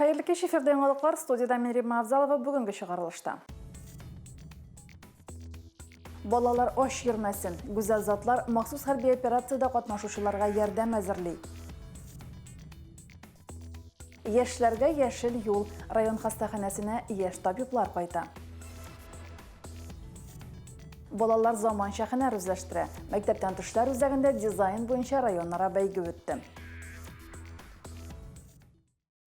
Хәерле кич, эфирда яңалыклар, студиядә мин Римма Авзалова бүгенге чыгарылышта. Балалар ач йөрмәсен, гүзәл затлар махсус хәрби операциядә катнашучыларга ярдәм әзерли. Яшьләргә яшел юл, район хастаханәсенә яшь табиблар кайта. Балалар заманча һөнәр үзләштерә. Мәктәптән төшләр үзәгендә дизайн буенча районара бәйге үтте.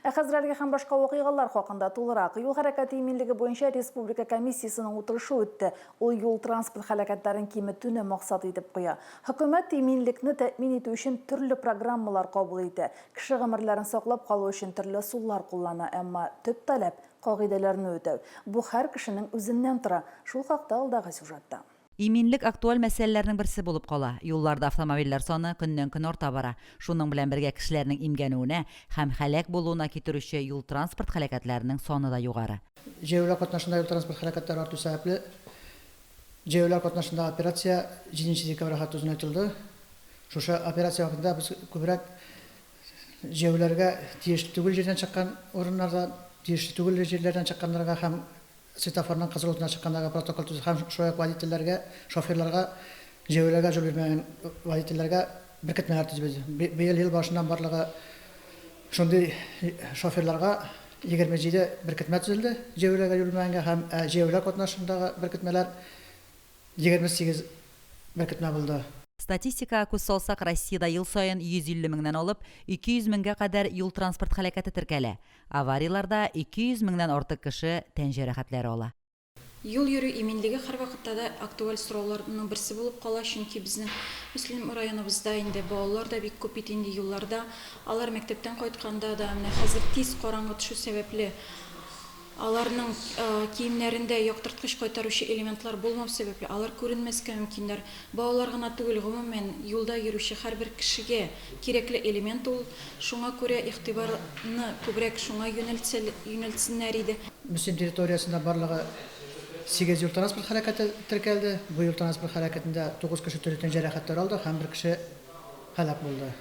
Ә хәзер әлеге һәм башка вакыйгалар хакында тулырак. Юл хәрәкәте иминлеге буенча республика комиссиясенең утырышы үтте. Ул юл-транспорт һәлакәтләрен киметүне максат итеп куя. Хөкүмәт иминлекне тәэмин итү өчен төрле программалар кабул итә. Кеше гомерләрен саклап калу өчен төрле ысуллар куллана, әмма төп таләп, кагыйдәләрне үтәү. Бу һәр кешенең үзеннән тора. Шул хакта алдагы сюжетта. Иминлек актуаль мәсьәләләрнең берсе булып кала. Юлларда автомобильләр саны көннән-көн арта бара. Шуның белән бергә кешеләрнең имгәнүенә һәм һәлак булуына китерүче юл-транспорт һәлакәтләренең саны да югары. Җәяүләр катнашында юл-транспорт һәлакәтләре арту сәбәпле, җәяүләр катнашындагы операция җиденче декабрьга хәтле озынайтылды. Шушы операция вакытында без күбрәк җәяүләргә тиешле түгел җирдән чыккан урыннарда, тиешле түгел җирләрдән чыкканнарга һәм Светофорның кызыл утына чыккандагы протокол төзү һәм шулай ук водительләргә, шоферларга җәяүләргә җол бирмәгән водительләргә беркетмәләр төзебез. Быел ел башыннан барлыгы шундый шоферларга 27 беркетмә төзелде, җәяүләргә җол бирмәгәнгә һәм ә җәяүләр катнашындагы беркетмәләр 28 беркетмә булды. Статистикага күз салсак, Россиядә ел саен 150 меңнән алып 200 меңгә кадәр юл-транспорт һәлакәте теркәлә. Аварияләрдә 200 меңнән артык кеше тән җәрәхәтләре ала. Юл йөрү иминлеге һәрвакытта да актуаль сорауларның берсе булып кала, чөнки безнең Мөслим районыбызда инде балалар да бик күп бит инде юлларда. Алар мәктәптән кайтканда да, менә хәзер тиз караңгы төшү сәбәпле, аларның киемнәрендә яктырткыч кайтаручы элементлар булмау сәбәпле, алар күренмәскә мөмкиннәр. Балалар гына түгел, гомумән, юлда йөрүче һәрбер кешегә Кирәкле элемент ул, шуңа күрә игътибарны күбрәк шуңа юнәлтсәльюнәлтсеннәр иде. Мөслим территориясендә барлыгы сигез юл-транспорт һәлакәте теркәлде. Бу юл-транспорт һәлакәтендә тугыз кеше төрле тән җәрәхәтләре алды һәм бер кеше һәлак булды.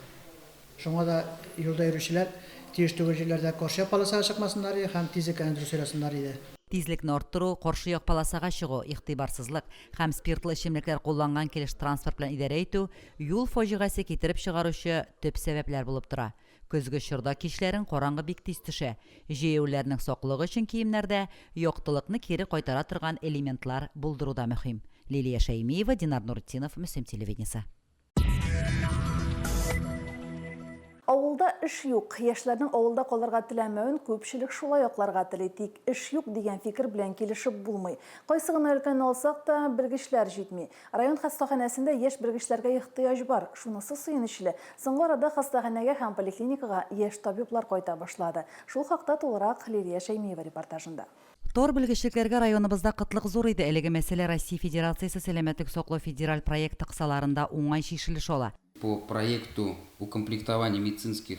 Шуңа да юлда йөрүчеләр тиеш түгел җирләрдә каршы як полосага чыкмасыннар иде һәм тизлекләрне дөрес сайласыннар иде. Тизлекне арттыру, каршы як полосага чыгу, игътибарсызлык һәм спиртлы эчемлекләр кулланган килеш транспорт белән идарә итү, Юл фаҗигасе китереп чыгаручы төп сәбәпләр булып тора. Көзге чорда кичләрен караңгы бик тиз төшә. Җәяүләрнең саклыгы өчен киемнәрдә яктылыкны кире кайтара торган элементлар булдыру да мөһим. Лилия Шәймиева, Динар Нуретдинов, Мөслим телевидениесе. Авылда эш юк. Яшьләрнең авылда калырга теләмәвен күпчелек шулай акларга тели. Тик эш юк дигән фикер белән килешеп булмый. Кайсы гына өлкәне алсак та, белгечләр җитми. Район хастаханәсендә яшь белгечләргә ихтыяҗ бар. Шунысы сөенечле, соңгы арада хастаханәгә һәм поликлиникага яшь табиблар кайта башлады. Шул хакта тулырак Лилия Шәймиева репортажында. Тор белгечлекләргә районыбызда кытлык зур иде. Әлеге мәсьәлә Россия Федерациясе Сәламәтлек саклау федераль проекты кысаларында уңай чишелеш ала. По проекту укомплектования медицинских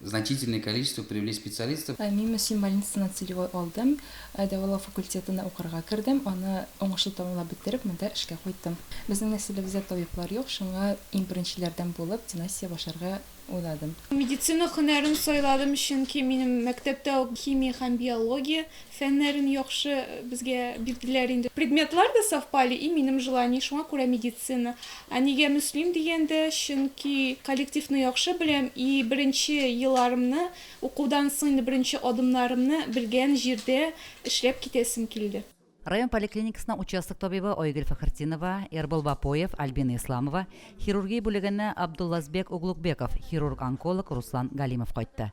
значительное количество привлечь специалистов. Мин Мөслим больницасына целевой алдым, дәвалау факультетына укырга кердем, аны уңышлы тәмамлап бетереп, монда эшкә кайттым. Безнең нәселебездә табиблар юк, шуңа иң беренчеләрдән булып династия башларга уйладым. Медицина һөнәрен сайладым, чөнки минем мәктәптә үк химия һәм биология, Фәннәрен яхшы безгә бирделәр инде. Предметлар да совпали и минем желание, шуңа күрә медицина. Ә нигә Мөслим дигәндә, чөнки коллективны яхшы беләм и беренче еларымны, укудан соң инде беренче адымнарымны белгән җирдә эшләп китәсем килде. Район поликлиникасына участок табибы Айгөл Фәхертдинова, Эрбол Бапоев, Альбина Исламова, хирургия бүлегенә Абдуллазбек Углукбеков, хирург-онколог Руслан Галимов кайтты.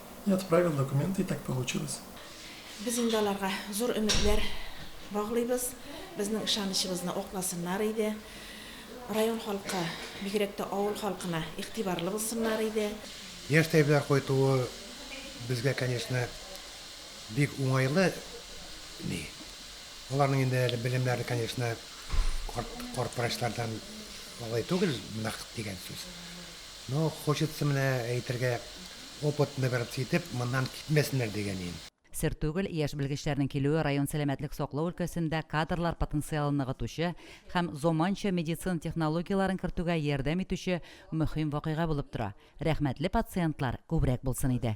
и отправил документы и так получилось. Без инде аларга зур өметләр баглыйбыз, безнең ышанычыбызны акласыннар иде, район халкы, бигрәк тә авыл халкына игътибарлы булсыннар иде. Яшь тәбибләр кайтуы безгә, конечно, бик уңайлы ни. Аларның инде әле белемнәре, конечно, карт врачлардан алай түгел, нык дигән сүз. Ну, хочется менә әйтергә, опыт набираться итеп, моннан китмәсеннәр дигән ин. Сер түгел, яшь белгечләрнең килүе район сәламәтлек саклау өлкәсендә кадрлар потенциалын ныгытучы һәм заманча медицина технологияләрен кертүгә ярдәм итүче мөһим вакыйга булып тора. Рәхмәтле пациентлар күбрәк булсын иде.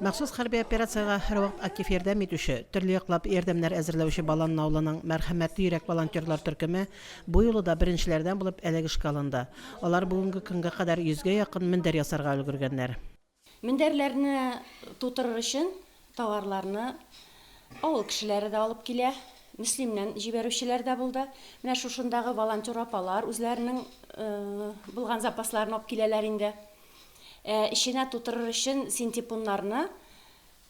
Махсус хәрби операциягә һәрвакыт актив ярдәм итүче, төрле яклап ярдәмнәр әзерләүче Баланны авылының Мәрхәмәтле йөрәк волонтерлар төркеме бу юлы да беренчеләрдән булып әлеге эшкә алынды. Алар бүгенге көнгә кадәр йөзгә якын мендәр ясарга өлгергәннәр. Мендәрләрне тутырыр өчен товарларны авыл кешеләре дә алып килә, Мөслимнән җибәрүчеләр дә булды. Менә шушындагы волонтер апалар үзләренең булган запасларын алып киләләр инде. Ә эченә тутырыр өчен синтепоннарны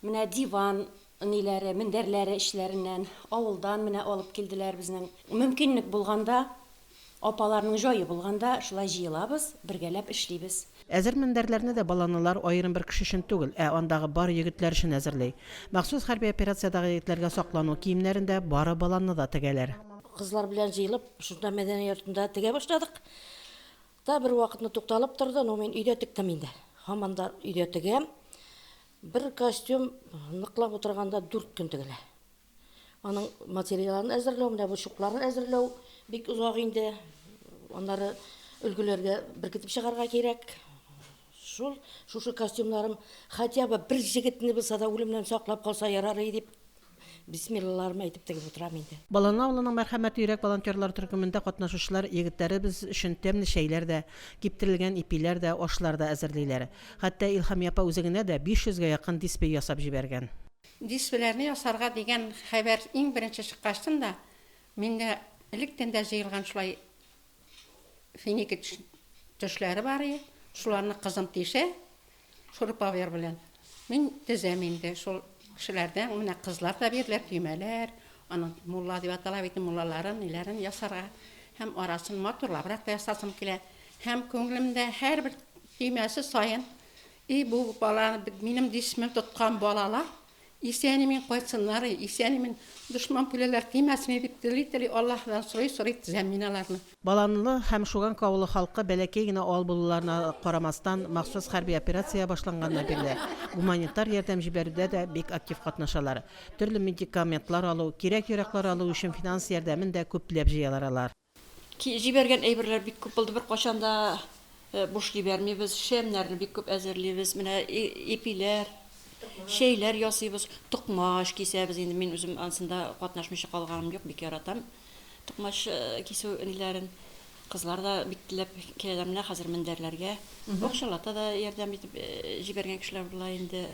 менә диван ниләре, мендәрләре эчләреннән, авылдан менә алып килделәр безнең. Мөмкинлек булганда, апаларның җае булганда шулай җыелабыз, бергәләп эшлибез. Әзер мендәрләрне дә баланылар аерым бер кеше өчен түгел, ә андагы бар егетләр өчен әзерли. Махсус хәрби операциядагы егетләргә саклану киемнәрен дә, бары баланны да тегәләр. Кызлар белән җыелып, шунда мәдәни йортында тегә башладык. Та бер вакытны тукталып торды, ну мин өйдә тектем инде. Һаман да өйдә тегәм. Бер костюм ныклап утырганда 4 көн тегелә. Аның материалын әзерләү, менә бу чукларын әзерләү бик озак инде. Аннары өлгеләргә беркетеп чыгарга кирәк. Шул, шушы костюмнарым хотя бы бер җегетне булса да үлемнән саклап калса ярарый дип, бисмиллаларымны әйтеп тегеп утырам инде. Баланы авылының Мәрхәмәтле йөрәк волонтерлары төркемендә катнашучылар егетләребез өчен тәмле чәйләр дә, киптерелгән ипиләр дә, ашлар да әзерлиләр. Хәтта Илһамия апа үзе генә дә 500 гә якын диспей ясап җибәргән. Диспиләрне ясарга дигән хәбәр иң беренче чыккачтын да, миндә электән дә җыелган шулай Финики төшләре бар и, шуларны кызым тишә, шуруповер белән. Мин тезәм инде, шул кешеләрдән, менә кызлар да бирделәр, төймәләр, аның мулла дип атала бит, муллаларын, ниләрен ясарга. Һәм арасын матурлабрак та ясасым килә. Һәм күңелемдә һәрбер төймәсе саен, и бу бала, минем дисмем тоткан балалар, Исән-имин кайтсыннар, исән-имин, дошман пүляләр тимәсен дип тели-тели, Аллаһыдан сорый-сорый тезәм мин аларны. Баланлы һәм Шуганка авылы халкы бәләкәй генә авыл булуларына карамастан, махсус хәрби операция башланганнан бирле гуманитар ярдәм җибәрүдә дә бик актив катнашалар. Төрле медикаментлар алу, кирәк-яракълар алу өчен финанс ярдәмен дә күпләп җыялар алар. Ки җибәргән әйберләр бик күп булды, беркайчан да буш җибәрмибез, шәмнәрне бик күп әзерлибез, менә ипиләр, чәйләр ясыйбыз, токмач кисәбез, инде мин үзем ансында катнашмыйча калганым юк, бик яратам токмач кисү ниләрен, кызлар да бик теләп киләләр, менә хәзер мендәрләргә, бакчаларда да ярдәм итеп җибәргән кешеләр була инде,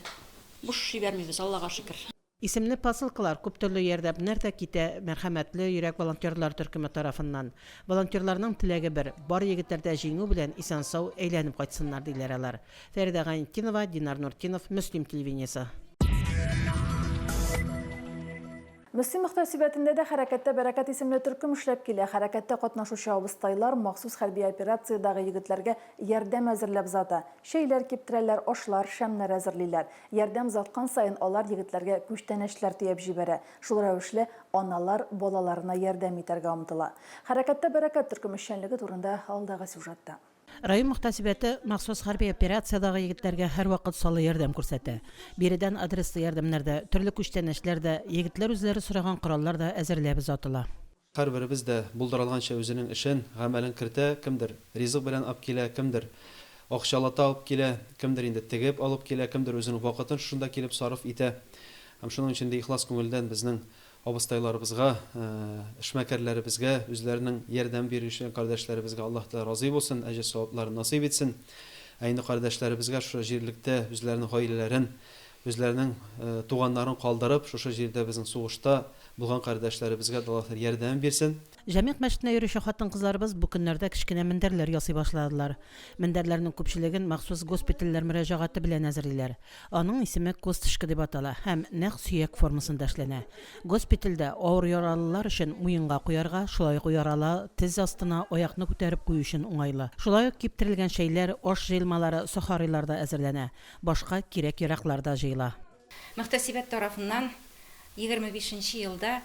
буш җибәрмибез, Аллага шөкер. Исемле посылкалар күптөрле ярдәмнәр дә китә Мәрхәмәтле йөрәк волонтерлар төркеме тарафыннан. Волонтерларның теләге бер, бар егетләр дә җиңү белән исән-сау әйләнеп кайтсыннар, диләр алар. Фәридә Гайнетдинова, Динар Нуртдинов, Мөслим телевидениесе. Мөслим мөхтәсибәтендә дә Хәрәкәттә бәрәкәт исемле төркем эшләп килә. Хәрәкәттә катнашучы абыстайлар махсус хәрби операциядәге егетләргә ярдәм әзерләп зата. Чәйләр киптерәләр, ашлар, шәмнәр әзерлиләр. Ярдәм озаткан саен алар егетләргә күчтәнәчләр төяп җибәрә, шул рәвешле аналар балаларына ярдәм итәргә омтыла. Хәрәкәттә бәрәкәт төркеме эшчәнлеге турында алдагы сюжетта. Район мөхтәсибәте махсус хәрби операциядагы егетләргә һәрвакыт саллы ярдәм күрсәтә. Биредән адреслы ярдәмнәр дә, төрле күчтәнәчләр дә, егетләр үзләре сораган кораллар да әзерләп озатыла. Һәрберебез дә булдыра алганча үзенең эшен, гамәлен кертә, кемдер ризык белән ап килә, кемдер акчалата алып килә, кемдер инде тегеп алып килә, кемдер үзенең вакытын шушында килеп сарыф итә. Һәм шуның өчен дә ихлас күңелдән безнең абыстайларыбызга, эшмәкәрләребезгә, үзләренең ярдәм бирүче кардәшләребезгә Аллаһ Тәгалә разый булсын, әҗер-савапларын насыйп итсен. Ә инде кардәшләребезгә шушы җирлектә үзләренең гаиләләрен Үзләренең туганнарын калдырып, шушы җирдә безнең сугышта булган кардәшләребезгә дә Аллаһ ярдәмен бирсен. Җәмигъ мәчетенә йөрүче хатын-кызларыбыз бу көннәрдә кечкенә мендәрләр ясый башладылар. Мендәрләрнең күпчелеген махсус госпитальләр мөрәҗәгате белән әзерлиләр. Аның исеме косточка дип атала һәм нәкъ сөяк формасында эшләнә. Госпитальдә авыр яралылар өчен муенга куярга, шулай ук яралы тез астына аякны күтәреп кую өчен уңайлы. Шулай ук киптерелгән чәйләр, аш җыелмалары сохарилар да әзерләнә. Башка кирәк-яраклар да җыела. Мөхтәсибәт тарафыннан егерме бишенче елда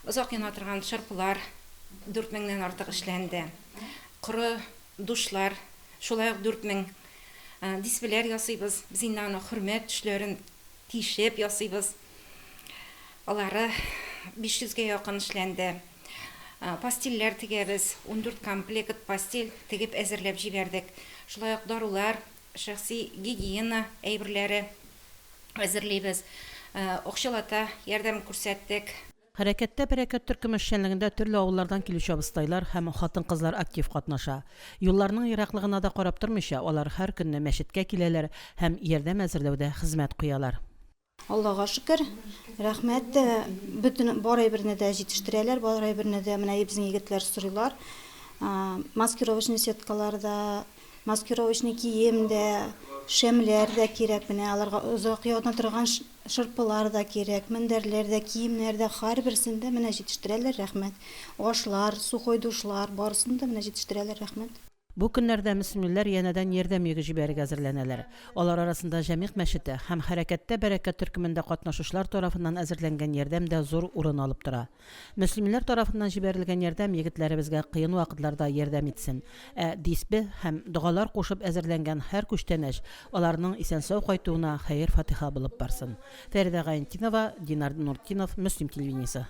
озак яна торган шырпылар дүрт меңнән артык эшләнде. Коры душлар, шулай ук дүрт мең дисвеләр ясыйбыз. Без инде аны хөрмәт төшләрен тишеп ясыйбыз. Алары биш йөзгә якын эшләнде. Постельләр тегәбез, ундүрт комплект постель тегеп әзерләп җибәрдек. Шулай ук дарулар. Шәхси гигиена әйберләре әзерлибез, акчалата ярдәм күрсәттек. Хәрәкәттә Бәрәкәт төркеме эшчәнлегендә төрле авыллардан килүче абыстайлар һәм хатын-кызлар актив катнаша. Юлларның ераклыгына да карап тормыйча, алар һәр көнне мәчеткә киләләр һәм ярдәм әзерләүдә хезмәт куялар. Аллага шөкер, рәхмәт, бөтен бар әйберне дә җитештерәләр, бар әйберне дә менә безнең егетләр сорыйлар. Маскировочный сеткалар да, маскировочный кием дә, шәмләр дә кирәк, менә аларга озак яна торган шырпылар да кирәк, мендәрләр дә, киемнәр дә, һәрберсен дә менә җитештерәләр, рәхмәт. Ашлар, сухой душлар, барысын да менә җитештерәләр, рәхмәт. Бу көннәрдә мөслимлеләр янәдән ярдәм йөге җибәрергә әзерләнәләр. Алар арасында Җәмигъ мәчете һәм Хәрәкәттә бәрәкәт төркемендә катнашучылар тарафыннан әзерләнгән ярдәм дә зур урын алып тора. Мөслимлеләр тарафыннан җибәрелгән ярдәм егетләребезгә кыен вакытларда ярдәм итсен. Ә дисбеһ һәм догалар кушып әзерләнгән һәр күчтәнәч аларның исән-сау кайтуына хәер-фатыйха булып барсын. Фәридә Гаентинова, Динар Нуртдинов, Мөслим телевидениесе.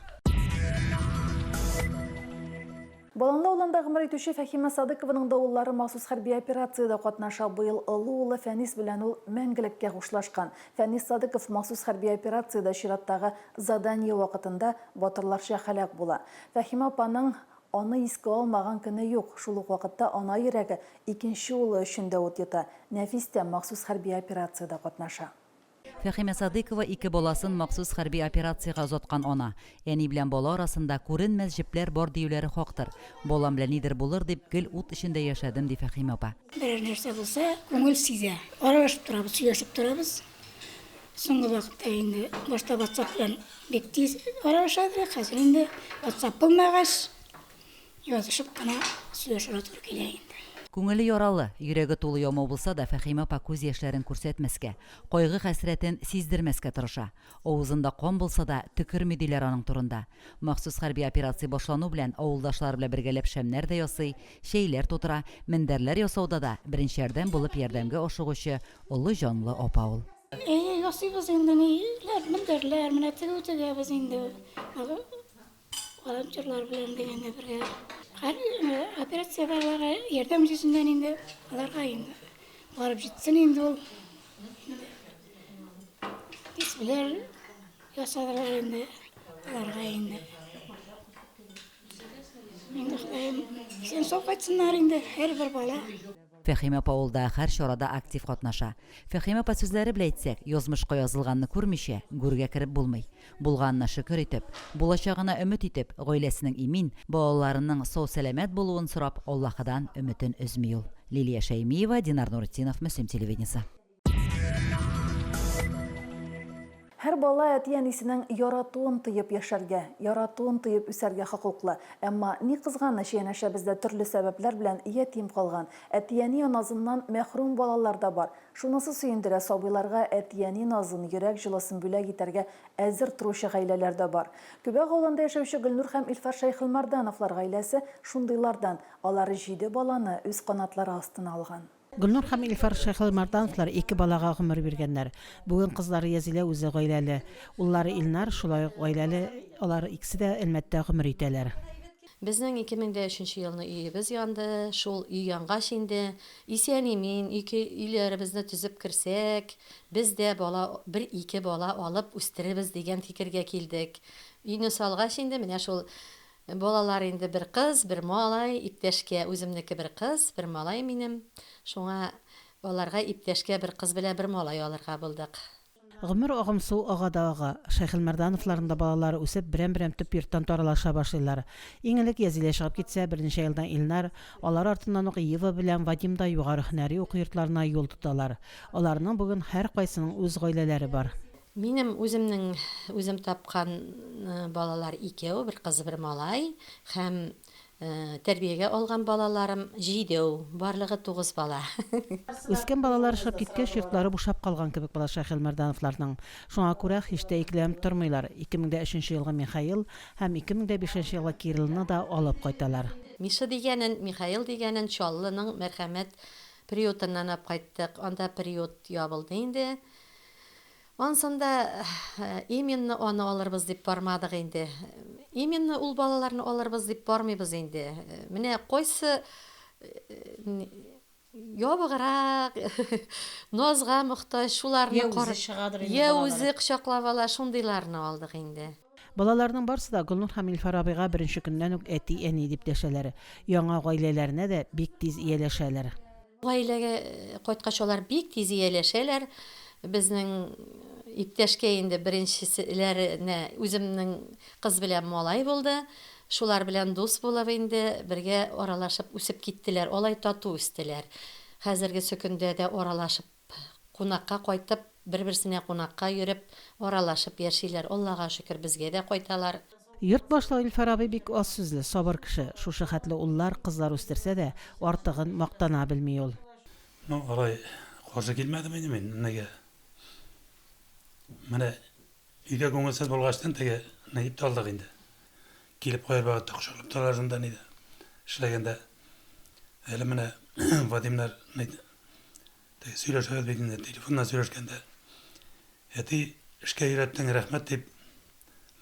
Болынлы авылында гомер итүче Фәһимә Садыкованың да уллары махсус хәрби операциядә катнаша. Быел олы улы Фәнис белән ул мәңгелеккә хушлашкан. Фәнис Садыков махсус хәрби операциядә чираттагы задание вакытында батырларча һәлак була. Фәһимә апаның аны искә алмаган көне юк. Шул ук вакытта ана йөрәге икенче улы өчен дә ут йота. Нәфис тә махсус хәрби операциядә катнаша. Фәхимә Садыйкова ике баласын махсус хәрби операциягә озаткан ана. Әни белән бала арасында күренмәс җепләр бар диюләре хактыр. Балам белән нидер булыр дип, гел ут эчендә яшәдем, ди Фәхимә апа. Берәр нәрсә булса, күңел сизә. Аралашып торабыз, сөйләшеп торабыз. Соңгы вакытта инде башта ватсап белән бик тиз аралаша идек, хәзер инде ватсап булмагач, Язышып кына сөйләшергә туры килә инде. Күңеле яралы, йөрәге тулы ямау булса да, Фәһимә апа күз яшьләрен күрсәтмәскә, кайгы-хәсрәтен сиздермәскә тырыша. Авызында кан булса да, төкерми диләр аның турында. Махсус хәрби операция башлану белән, авылдашлары белән бергәләп шәмнәр дә ясый, чәйләр тутыра, мендәрләр ясауда да беренче ярдәм булып ярдәмгә ашыгучы олы җанлы апа ул. Әйе, ясыйбыз инде, ниләр, мендәрләр, менә тегү тегәбез инде. Волонтерлар белән дә инде бергә. Хәзер операциядәләре ярдәм җисеннән инде аларга инде барып җитсен инде ул. Кисүләр ясадылар инде аларга инде. Инде Ходаем исән сау кайтсыннар инде һәрбер бала. Фәһим апа ул да һәр чарада актив катнаша. Фәһим апа сүзләре белә әйтсәк, язмышка язылганны күрмичә, гүргә кереп булмый. Булганына шөкер итеп, булачагына өмет итеп, гаиләсенең имин, балаларының сау-сәламәт булуын сорап Аллаһыдан өметен өзми ул. Лилия Шәймиева, Динар Нуретдинов, Мөслим телевидениесе. Һәр бала әти-әнисенең яратуын тоеп яшәргә, яратуын тоеп үсәргә хокуклы. Әмма, ни кызганыч, янәшәбездә төрле сәбәпләр белән ятим калган, әти-әни назыннан мәхрүм балалар да бар. Шунысы сөендерә, сабыйларга әти-әни назын, йөрәк җылысын бүләк итәргә әзер торучы гаиләләр дә бар. Күбәк авылында яшәүче Гөлнур һәм Илфар Шәйхелмардановлар гаиләсе шундыйлардан. Алар җиде баланы үз канатлары астына алган. Гөлнур һәм Илфар Шәйхелмәрдановлар ике балага гомер биргәннәр. Бүген кызлары Язилә үзе гаиләле. Уллары Илнар шулай ук гаиләле, алар икесе дә Әлмәттә гомер итәләр. Безнең 2003 нче елны өебез янды. Шул өй янгач инде, исән-имин ике өйләребезне төзеп керсәк, без дә бала, бер-ике бала алып үстерербез дигән фикергә килдек. Өйне салгач инде, менә шул Балалар инде бер кыз, бер малай, иптәшкә, үземнеке бер кыз, бер малай минем. Шуңа аларга иптәшкә бер кыз белән бер малай алырга булдык. Гомер агымсу ага да ага. Шәйхелмәрдановларның да балалары үсеп, берәм-берәм төп йорттан таралыша башлыйлар. Иң элек Язилә чыгып китсә, берничә елдан Илнар, алар артыннан ук Ева белән Вадим да югары һөнәри уку йортларына юл тоталар. Аларның бүген һәркайсының үз гаиләләре бар. Минем үземнең үзем тапкан балалар икәү, бер кыз, бер малай һәм тәрбиягә алган балаларым җидеу, барлыгы тугыз бала. Үскән балалар ошап киткәч, йортлары бушап калган кебек була Шәйхелмәрдановларның. Шуңа күрә һич тә икеләнеп тормыйлар, 2003 елгы Михаил һәм 2005 елгы Кириллны да алып кайталар. Миша дигәнен, Михаил дигәнен Чаллының Мәрхәмәт приютыннан алып кайттык, анда приют ябылды инде. Ансын да именно аны алырбыз дип бармадык инде. Именно ул балаларны алырбыз дип бармыйбыз инде. Менә кайсы ябыграк, назга мохтаҗ, шуларны карап, йә үзе кочаклап ала, шундыйларны алдык инде. Балаларның барсы да Гөлнур һәм Илфар абыйга беренче көннән үк әти-әни дип дәшәләр. Яңа гаиләләренә дә бик тиз ияләшәләр. Гаиләгә кайткач алар бик тиз ияләшәләр. Безнең иптәшкә инде беренчеселәренә үземнең кыз белән малай булды. Шулар белән дус булып инде бергә аралашып үсеп киттеләр. Алай тату үстеләр. Хәзерге сөкендә дә аралашып кунакка кайтып, бер-берсенә кунакка йөреп, аралашып яшиләр. Аллага шөкер, безгә дә кайталар. Йорт башлыгы Илфар абый бик аз сүзле, сабыр кеше. Шушы хәтле уллар, кызлар үстерсә дә, артыгын мактана белми ул. Ну, алай каршы килмәдем инде мин Нигә? Менә өйдә күңелсез булгачтын, теге Нигипты алдык инде. Килеп кайбер вакытта кочаклап торалар шунда, нидә эшләгәндә. Әле менә Вадимнар Теге сөйләшәбез бит инде, телефоннан сөйләшкәндә. Әти, эшкә өйрәттең, рәхмәт дип,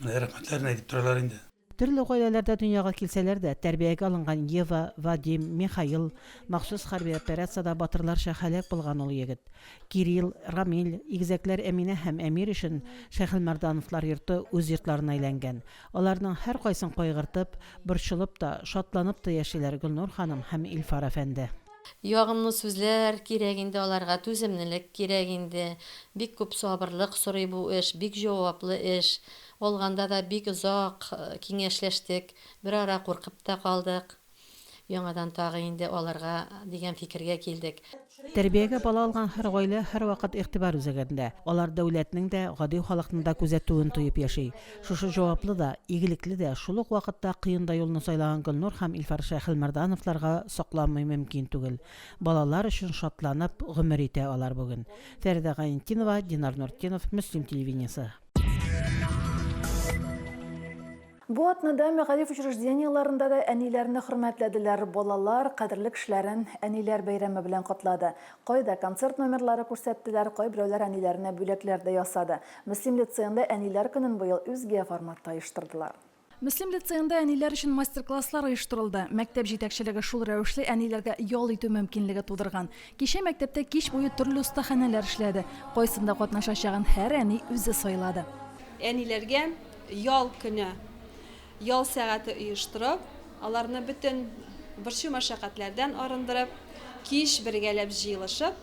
менә рәхмәтләрен әйтеп торалар инде. Төрле гаиләләрдә дөньяга килсәләр дә, тәрбиягә алынган Ева, Вадим, Михаил, махсус хәрби операциядә батырларча һәлак булган ул егет, Кирилл, Рамил, игезәкләр Әминә һәм Әмир өчен Шәйхелмәрдановлар йорты үз йортларына әйләнгән. Аларның һәркайсын кайгыртып, борчылып та, шатланып та яшиләр Гөлнур ханым һәм Илфар әфәнде. Ягымлы сүзләр кирәк инде аларга, түземнелек кирәк инде. Бик күп сабырлык сорый бу эш, бик җаваплы эш. Алганда да бик озак киңәшләштек, берара куркып та калдык. Яңадан тагы инде алырга дигән фикергә килдек. Тәрбиягә бала алган һәр гаилә һәрвакыт игътибар үзәгендә. Алар дәүләтнең дә, гади халыкның да күзәтүен тоеп яши. Шушы җаваплы да, игелекле дә, шул ук вакытта кыен да юлны сайлаган Гөлнур һәм Илфар Шәйхелмәрдановларга сокланмый мөмкин түгел. Балалар өчен шатланып гомер итә алар бүген. Фәридә Гайнетдинова, Динар Нуртдинов, Мөслим телевидениесе. Бу атнада мәгариф учреждениеләрендә дә әниләрне хөрмәтләделәр. Балалар кадерле кешеләрен Әниләр бәйрәме белән котлады. Кайда концерт номерлары күрсәттеләр, кайберәүләр әниләренә бүләкләр дә ясады. Мөслим лицеенда Әниләр көнен быел үзге форматта оештырдылар. Мөслим лицеенда әниләр өчен мастер-класслар оештырылды. Мәктәп җитәкчелеге шул рәвешле әниләргә ял итү мөмкинлеге тудырган. Кичә мәктәптә кич буе төрле остаханәләр эшләде. Кайсында катнашачагын һәр әни үзе сайлады. Әниләргә ял көне, ял сәгате оештырып, аларны бөтен борчу-мәшәкатьләрдән арындырып, кич бергәләп җыелышып,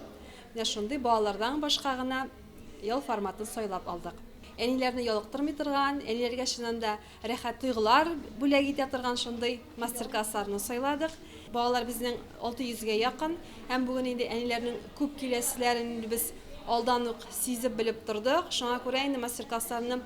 менә шундый балалардан башка гына, Ял форматын сайлап алдык. Әниләрне ялыктырмый торган, әниләргә чыннан да рәхәт тойгылар бүләк итә торган шундый мастер-классларны сайладык. Балалар безнең 600 гә якын һәм бүген инде әниләрнең күп киләселәрен инде без алдан ук сизеп белеп тордык. Шуңа күрә инде мастер-классларны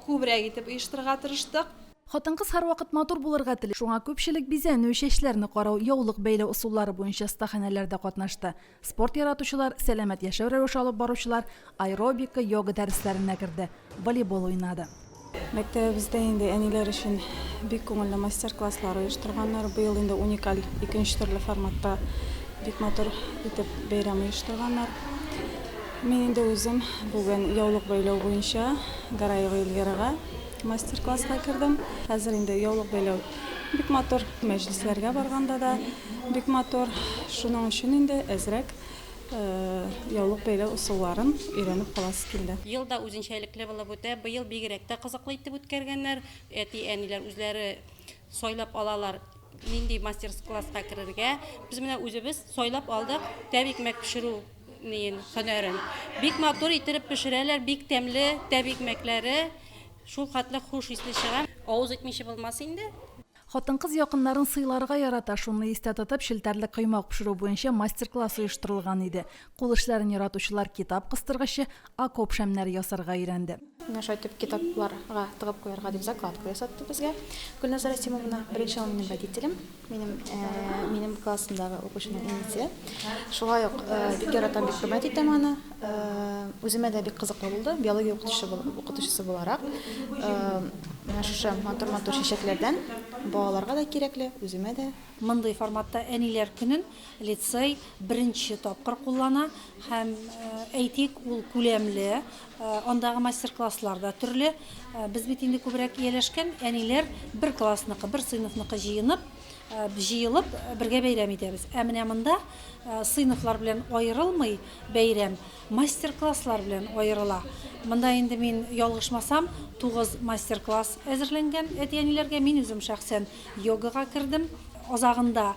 күбрәк итеп оештырырга тырыштык. Хатын-кыз һәрвакыт матур булырга тели, шуңа күпчелек бизәнү, чәчләрне карау, яулык бәйләү ысуллары буенча остаханәләрдә катнашты. Спорт яратучылар, сәламәт яшәү рәвеше алып баручылар аэробика, йога дәресләренә керде, волейбол уйнады. Мәктәбебездә инде әниләр өчен бик күңелле мастер-класслар оештырганнар. Быел инде уникаль икенче төрле форматта бик матур итеп бәйрәм оештырганнар. Мин инде үзем бүген яулык бәйләү буенча Гараева Эльвирага мастер-класска кердем. Хәзер инде яулык бәйләү бик матур. Мәҗлесләргә барганда да Бик матур, шуның өчен инде әзрәк яулык бәйләү ысулларын өйрәнеп каласы килде. Ел да үзенчәлекле булып үтә, быел бигрәк тә кызыклы итеп үткәргәннәр. Әти-әниләр үзләре сайлап алалар, нинди мастер-класска керергә. Без менә үзебез сайлап алдык тәб икмәк пешерү ниен, һөнәрен. Бик матур иттереп пешерәләр, бик тәмле тәб икмәкләре, шул хәтле хуш исле чыга. Авыз итмичә булмас инде. Хатын-кыз якыннарын сыйларга ярата, шуны истә тотып, челтәрле коймак пешерү буенча мастер-класс оештырылган иде. Кул эшләрен яратучылар китап кыстыргычы, окоп шәмнәре ясарга өйрәнде. Менә шулай итеп, китапларга тыгып куярга дип закладка ясатты безгә Гөлназар Рәсимовна. Беренче ул минем водителем, минем минем классымдагы укучының әнисе. Шулай ук бик яратам, бик хөрмәт итәм аны. Үземә дә бик кызыклы булды. Биология укытучысы буларак, менә шушы матур-матур чәчәкләрдән балаларга да кирәкле, үземә дә. Мондый форматта Әниләр көнен лицей беренче тапкыр куллана һәм, әйтик, ул күләмле, андагы мастер-класслар да төрле. Без бит инде күбрәк ияләшкән әниләр бер классныкы, бер сыйныфныкы җыенып, җыелып, бергә бәйрәм итәбез. Ә менә монда сыйныфлар белән аерылмый, Бәйрәм мастер-класслар белән аерыла. Монда инде мин ялгышмасам, тугыз мастер-класс әзерләнгән әти-әниләргә. Мин үзем шәхсән йогага кердем. Азагында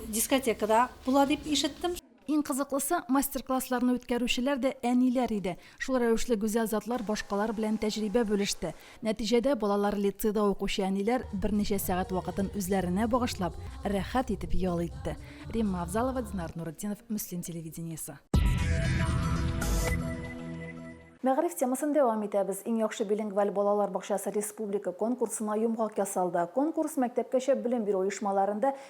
дискотека да була дип ишеттем. Иң кызыклысы, мастер-классларны үткәрүчеләр дә әниләр иде. Шул рәвешле гүзәл затлар башкалар белән тәҗрибә бүлеште. Нәтиҗәдә балалар лицейда укучы әниләр берничә сәгать вакытын үзләренә багышлап, рәхәт итеп ял итте. Римма Авзалова, Динар Нуретдинов, Мөслим телевидениесе. Мәгариф темасын дәвам итәбез. Иң яхшы билингваль балалар бакчасы республика конкурсына йомгак ясалды. Конкурс мәктәпкәчә белем бирү оешмаларында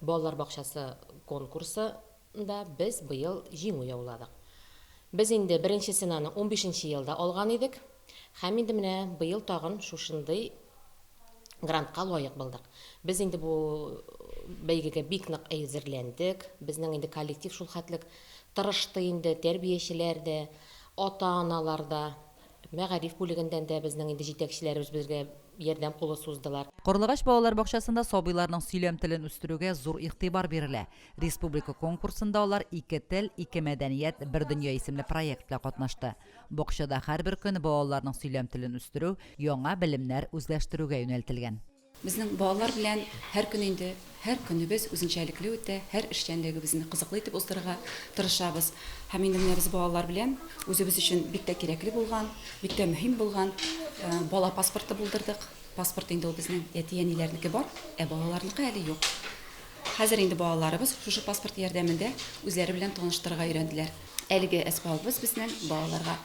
Балалар бакчасы конкурсы да без быел җиңү яуладык. Без инде беренче ценаны унбишенче елда алган идек һәм инде менә быел тагын шушындый грантка лаек булдык. Без инде бу бәйгегә бик нык әзерләндек. Безнең инде коллектив шулхәтлек тырышты инде, тәрбиячеләр дә, ата-аналар да. Мәгариф бүлегеннән дә безнең инде җитәкчеләребез безгә ярдәм кулы суздылар. Карлыгач балалар бакчасында сабыйларның сөйләм телен үстерүгә зур игътибар бирелә. Республика конкурсында алар Ике тел, ике мәдәният, бер дөнья исемле проект белән катнашты. Бакчада һәрбер көн балаларның сөйләм телен үстерү, яңа белемнәр үзләштерүгә юнәлтелгән. Безнең балалар белән һәр көн инде, һәр көнебез үзенчәлекле үтә, һәр эшчәнлегебезне кызыклы итеп уздырырга тырышабыз. Һәм инде менә без балалар белән үзебез өчен бик тә кирәкле булган, бик тә мөһим булган бала паспорты булдырдык. Паспорт инде ул безнең әти-әниләрнеке бар, ә балаларныкы әле юк. Хәзер инде балаларыбыз шушы паспорт ярдәмендә үзләре белән таныштырырга өйрәнделәр. Әлеге әсбабыбыз безнең балаларга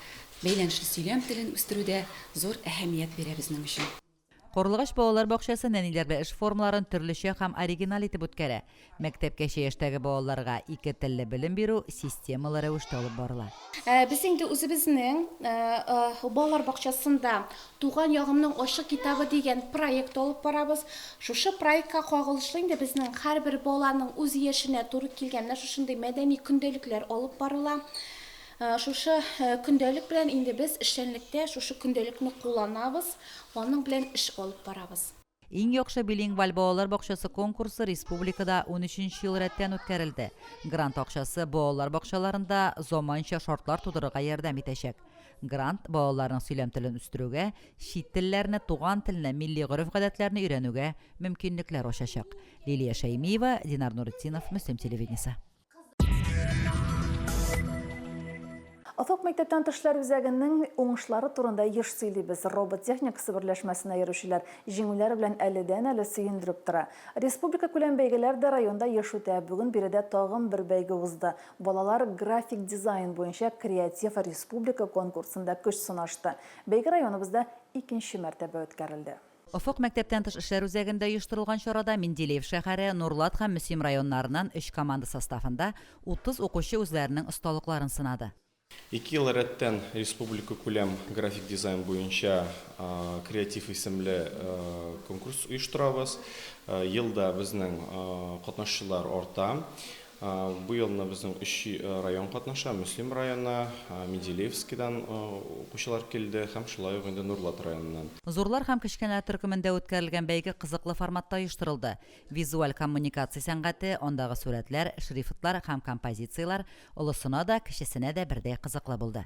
бәйләнешле сөйләм телен үстерүдә зур әһәмият бирә безнең өчен. Карлыгач балалар бакчасы нәниләрдә эш формаларын төрлечә һәм оригиналь итеп үткәрә. Мәктәпкәчә яшьтәге балаларга ике телле белем бирү системалы рәвештә алып барыла. Без инде үзебезнең балалар бакчасында Туган ягымның ачык китабы дигән проект алып барабыз. Шушы проектка кагылышлы инде безнең һәрбер баланың үз яшенә туры килгән менә шушындый мәдәни көндәлекләр алып барыла. Шушы көндәлек белән инде без эшчәнлектә шушы көндәлекне кулланабыз, аның белән эш алып барабыз. Иң яхшы билингваль балалар бакчасы конкурсы республикада унөченче ел рәттән үткәрелде. Грант акчасы балалар бакчаларында заманча шартлар тудырырга ярдәм итәчәк. Грант балаларның сөйләм телен үстерүгә, чит телләрне, туган телне, милли гореф-гадәтләрне өйрәнүгә мөмкинлекләр ачачак. Лилия Шәймиева, Динар Нуретдинов, Мөслим телевидениесе. Офык мәктәптән тышлар үзәгенең уңышлары турында еш сөйлибез. Робот техникасы берләшмәсенә йөрүчеләр җиңүләр белән әледән-әле сөендереп тора. Республика күләм бәйгеләр дә районда еш үтә. Бүген биредә тагын бер бәйге узды. Балалар график дизайн буенча креатив республика конкурсында көч сынашты. Бәйге районыбызда икенче мәртәбә үткәрелде. Офык мәктәптән тыш эшләр үзәгендә оештырылган чарада Менделеев шәһәре, Нурлат һәм Мөслим районнарыннан өч команда составында 30 укучы үзләренең осталыкларын сынады. Ике ел рәттән республикакүләм график дизайн буенча Креатив исемле конкурс оештырабыз. Ел да безнең катнашучылар арта. Бу елны безнең өч район катнаша, Мөслим районы, Менделеевскидан укучылар килде һәм шулай ук инде Нурлат районыннан. Зурлар һәм кечкенәләр төркемендә үткәрелгән бәйге кызыклы форматта оештырылды. Визуаль коммуникация сәнгате, андагы сурәтләр, шрифтлар һәм композицияләр олысына да, кечесенә дә бердәй кызыклы булды.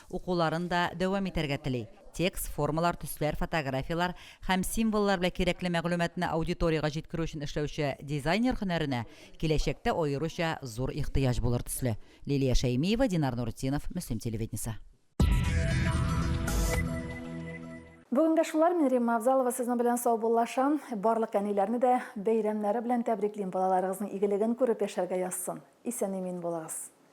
Укуларын да дәвам итәргә тели. Текст, формалар, төсләр, фотографияләр һәм символлар белән кирәкле мәгълүматны аудиториягә җиткерү өчен эшләүче дизайнер һөнәренә киләчәктә аеруча зур ихтыяҗ булыр төсле. Лилия Шәймиева, Динар Нуретдинов, Мөслим телевидениесе. Бүгенгә шулар, мин Римма Авзалова сезнең белән саубуллашам. Барлык әниләрне дә бәйрәмнәре белән тәбриклим, балаларыгызның игелеген күреп яшәргә язсын. Исән-имин булыгыз.